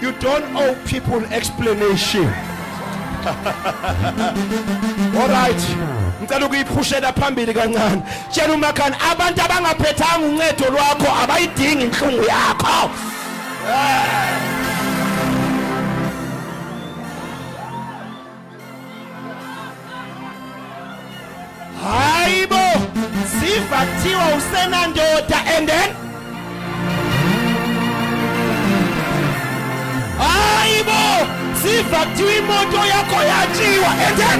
You don't owe people explanation. All right. Ngicela ukuyiphushela phambili kancane. Tshela umakhani abantu abangaphethanga uncedo lwakho abayidingi inhlungu yakho. Yeah. hayi bo siva kuthiwa usenandoda and then hayi bo siva kuthiwa imoto yakho yatshiwa and then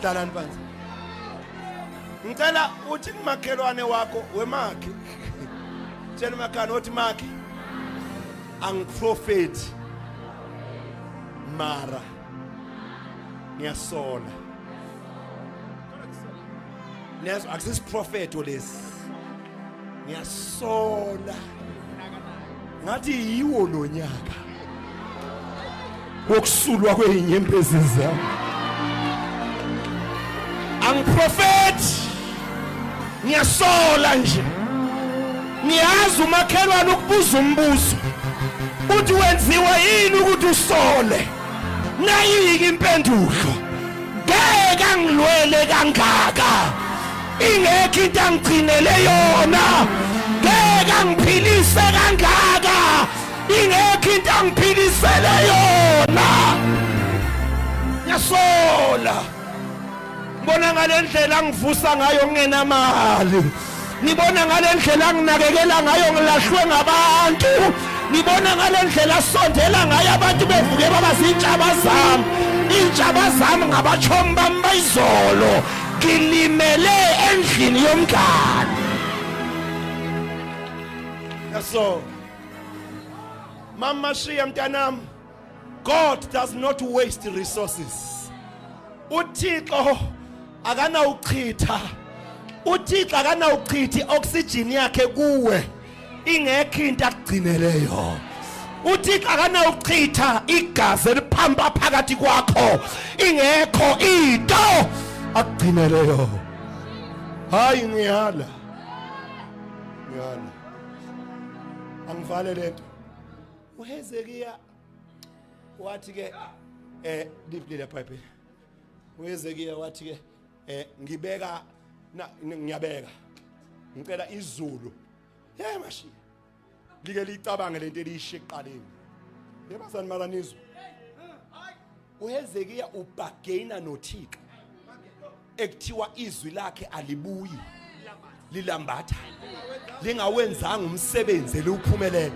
hlalani phansi ngicela uthi kumakhelwane wakho wemakhi tshela umakhana othi makhi angiprofethi mara ngiyasola Niyazi akusisiprofeto lesi. Ngiyasola. Ngathi yiwo lo nyaka. Wokusulwa kwezinyembezi zami. Angiprofeti. Ngiyasola nje. Ngiyazi umakhelwane ukubuza umbuzo. Uthi wenziwa yini ukuthi usole? nayike impendulo ngeke angilwele kangaka ingekho into angigcinele yona ngeke angiphilise kangaka ingekho into angiphilisele yona ngiyasola Ngibona ngale ndlela ngivusa ngayo ngingenamali. Ngibona ngale ndlela nginakekela ngayo ngilahlwe ngabantu. Ngibona ngale ndlela sondela ngayo abantu bevuke baba zintshaba zami. Intshaba zami ngabachomi bami bayizolo. Ngilimele endlini yomngane. Yaso. Mama shiya mntanami. God does not waste resources. UThixo akanawuchitha. UThixo akanawuchithi oxygen yakhe kuwe ingekho into akugcineleyo. uthixo akanawuchitha igazi eliphampa phakathi kwakho ingekho into akugcineleyo hayi ngiyala ngiyala angivale lento uHezekiya wathi ke eh deeply la bible uHezekiya wathi ke eh ngibeka ngiyabeka ngicela izulu hey mashiya like licabange lento eliyishiqaleni yebazani malanizwe uHezekiya ubhagena noThixo ekuthiwa izwi lakhe alibuyi lilambatha lingawenzanga umsebenzi eliwuphumelele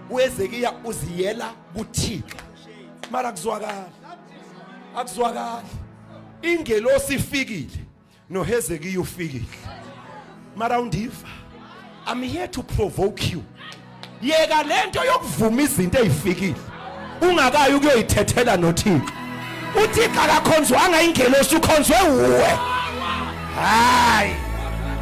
uHezekiya uziyela kuThixo mara kuzwakala akuzwakali ingelosi ifikile noHezekiya ufikile mara undiva i'm here to provoke you yeka lento yokuvuma izinto ezifikile ungakayi ukuyoyithethela noThixo uThixo akakhonzwanga ingelosi ukhonzwe uwe hayi